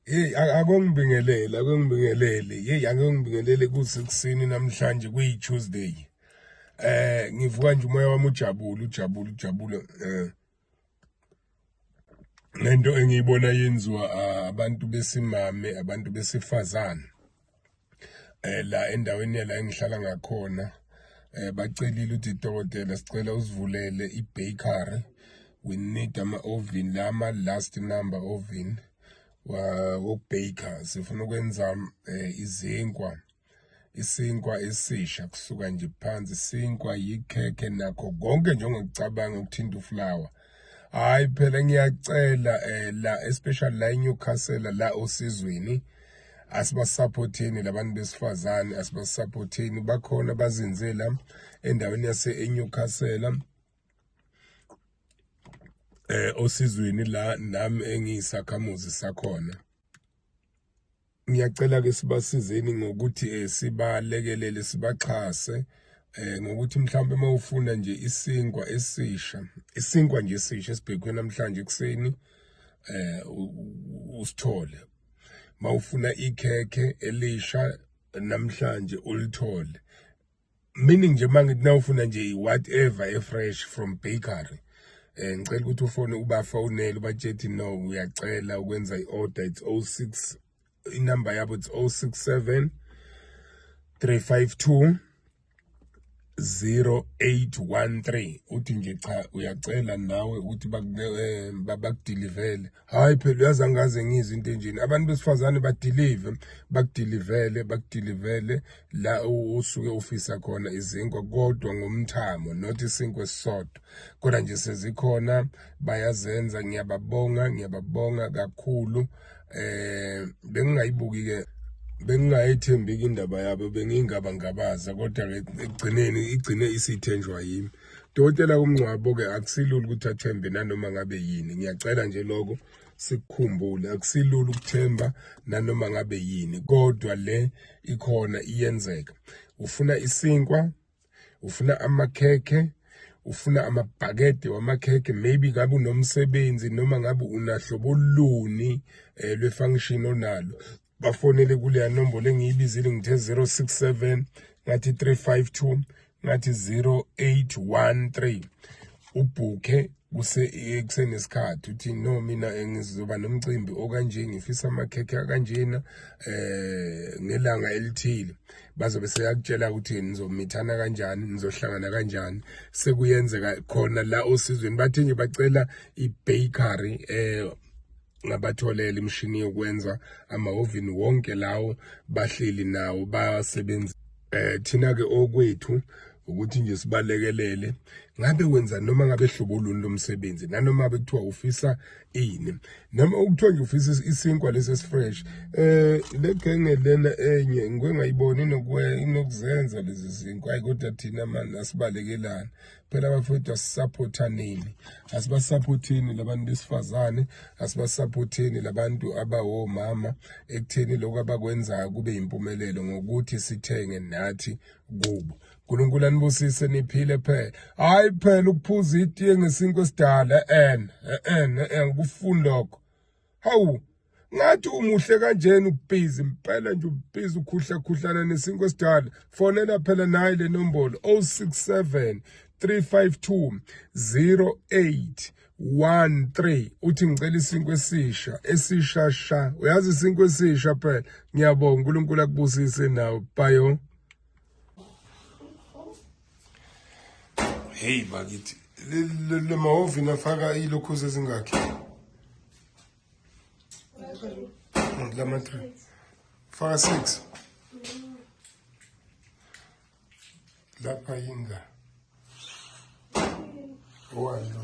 Hey akongibingeleli akongibingeleli hey akongibingeleli kusekuseni namhlanje kuyi Tuesday eh ngivuka nje umoya wami ujabule ujabule ujabule eh lento engiyibona yenziwa ah, abantu besimame abantu besifazane eh la endaweni yala engihlala ngakhona eh bacelile ukuthi dokotela sicela usivulele ibakery we need ama oven lama last number oven wokubaker sifuna ukwenza eh, izinkwa isinkwa esisha kusuka nje phansi isinkwa yikhekhe nakho konke njengokucabanga ukuthinta uflower hayi phela ngiyacela eh, la especially la eNewcastle la osizweni asibasupporteni labantu besifazane asibasupporteni bakhona bazinzela endaweni yase eNewcastle eh osizweni la nami engiyisakhamuzi sakhona ngiyacela ke sibasizeni ngokuthi eh, sibalekelele sibaxhase eh ngokuthi mhlawumbe uma ufuna nje isinkwa esisha isinkwa nje esisha esibhekwe namhlanje ekseni eh usithole mawufuna ikhekhe elisha namhlanje ulithole meaning nje mangithi nawufuna nje whatever e fresh from bakery eh ngicela ukuthi ufone ubafonele ubatshethi no uyacela ukwenza iorder it's 06 inumber yabo it's 067 352 0813 uthi nje cha uyacela nawe ukuthi bakudeliver eh, hayi phela uyazi angaze ngizwe into enjeni abantu besifazane badilive bakudilivele bakudilivele la usuke ufisa khona izinkwa kodwa ngomthamo not isinkwa esisodwa kodwa nje sezikhona bayazenza ngiyababonga ngiyababonga kakhulu eh bengingayibuki ke bengingayethembeki indaba yabo bengingabangabaza kodwa ekugcineni igcine isithenjwa yimi Dokotela umngcwabo-ke akusilula ukuthi athembe nanoma ngabe yini ngiyacela nje lokho sikukhumbule akusilula ukuthemba nanoma ngabe yini kodwa le ikhona iyenzeka ufuna isinkwa ufuna amakhekhe ufuna amabhakede wamakhekhe maybe ngabe unomsebenzi noma ngabe unahlobo luni um lwe-function onalo bafonele kuleya nombolo engiyibizile ngithe 067 ngathi 352 ngathi 0813 ubhukhe kuse kusenesikhathi uthi no mina ngizoba nomcimbi okanje ngifisa amakhekhe akanjena eh ngelanga elithile bazobe seyakutshela ukuthi nizomithana kanjani nizohlangana kanjani sekuyenzeka khona la osizweni bathe nje bacela ibakery eh ngabatholela imishini yokwenza amahhovini wonke lawo bahleli nawo basebenzi eh thina ke okwethu ukuthi nje sibalekelele ngabe wenza noma ngabe hlobo luni lomsebenzi nanoma bekuthiwa ufisa ini noma ukuthiwa nje ufisa isinkwa lesi esifresh eh le genge lena enye ngike ngayibona inokuzenza lezi zinkwa kodwa thina manje asibalekelana phela bafowethu asisaphotha nini asibasaphotheni labantu besifazane asibasaphotheni labantu abawomama ekutheni lokho abakwenzayo kube yimpumelelo ngokuthi sithenge nathi kubo uNkulunkulu anibusise niphile phela hayi phela ukuphuza itiye ngesinkwe esidala en en en kufuni lokho hawu ngathi umuhle kanjena ubhizi impela nje ubhizi ukhuhla khuhlana nesinkwe esidala fonela phela naye le nombolo 067 352 08 1 3 uthi ngicela isinkwe esisha esisha sha uyazi isinkwe esisha phela ngiyabonga uNkulunkulu akubusise nawe bayo heyi bakithi le mahovini afaka iy'lokhuzi ezingakhi lama three faka six lapha yinga owalo